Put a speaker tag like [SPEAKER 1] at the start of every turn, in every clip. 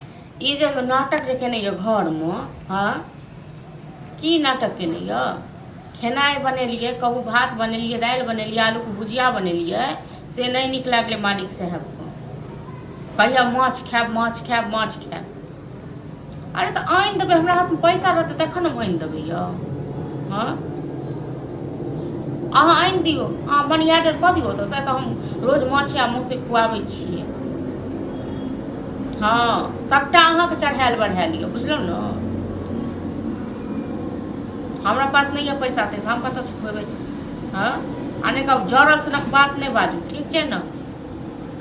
[SPEAKER 1] ई जे एगो नाटक जे केने यऽ घरमे हँ की नाटक केने यऽ खेनाइ बनेलियै कहू भात बनेलियै दालि बनेलियै आलूके भुजिया बनेलियै से नहि नीक लागलै मालिक साहेबके कहिया माछ खायब माछ खायब माछ खायब अरे तऽ आनि देबै हमरा हाथमे पैसा रहतै तखन हम आनि देबै यौ हँ अहाँ आनि दियौ अहाँ बनियाटर कऽ दियौ तऽ से तऽ हम रोज माछ या मौसे खुआबै छियै हँ सभटा अहाँके चढ़ायल बढ़ायल यऽ बुझलहुँ ने हमरा पास नहि यऽ पैसा तैसा हम कतऽ सुखेबै हँ आ नहि कहब जड़ल सनक बात नहि बाजू ठीक छै ने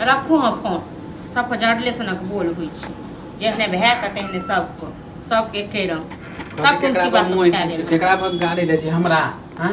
[SPEAKER 1] रखू हँ फोन सभके जड़ले सनक बोल होइ छै जेहने भए कऽ तेहने सभके सभके एके रंग सब केकरा पर मुँह खींचे, केकरा पर गाली दै छै हमरा हाँ?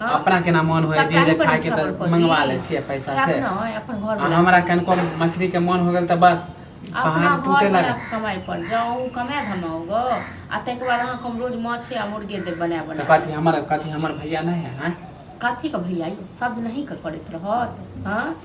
[SPEAKER 1] हँ अपना केना मोन होइए जे सप्लाइ जे करै खायके छै तऽ अपन कथी मंगवा लै छियै पैसा से अपना अपन घर आ वला हमरा कनिको मछली के मोन हो गेल तऽ बस अपना तहन टूटे घरवला लग के कमाइ पर जाउ ओ कमाय धमाउ ग आ ताहिके बाद अहाँके हम रोज माछे आ मुर्गे देब बना तऽ बना कऽ कथी हमर कथी हमर भैया नहि है आँय कथीके भैया यौ सब दिन अहींके करैत रहत हँ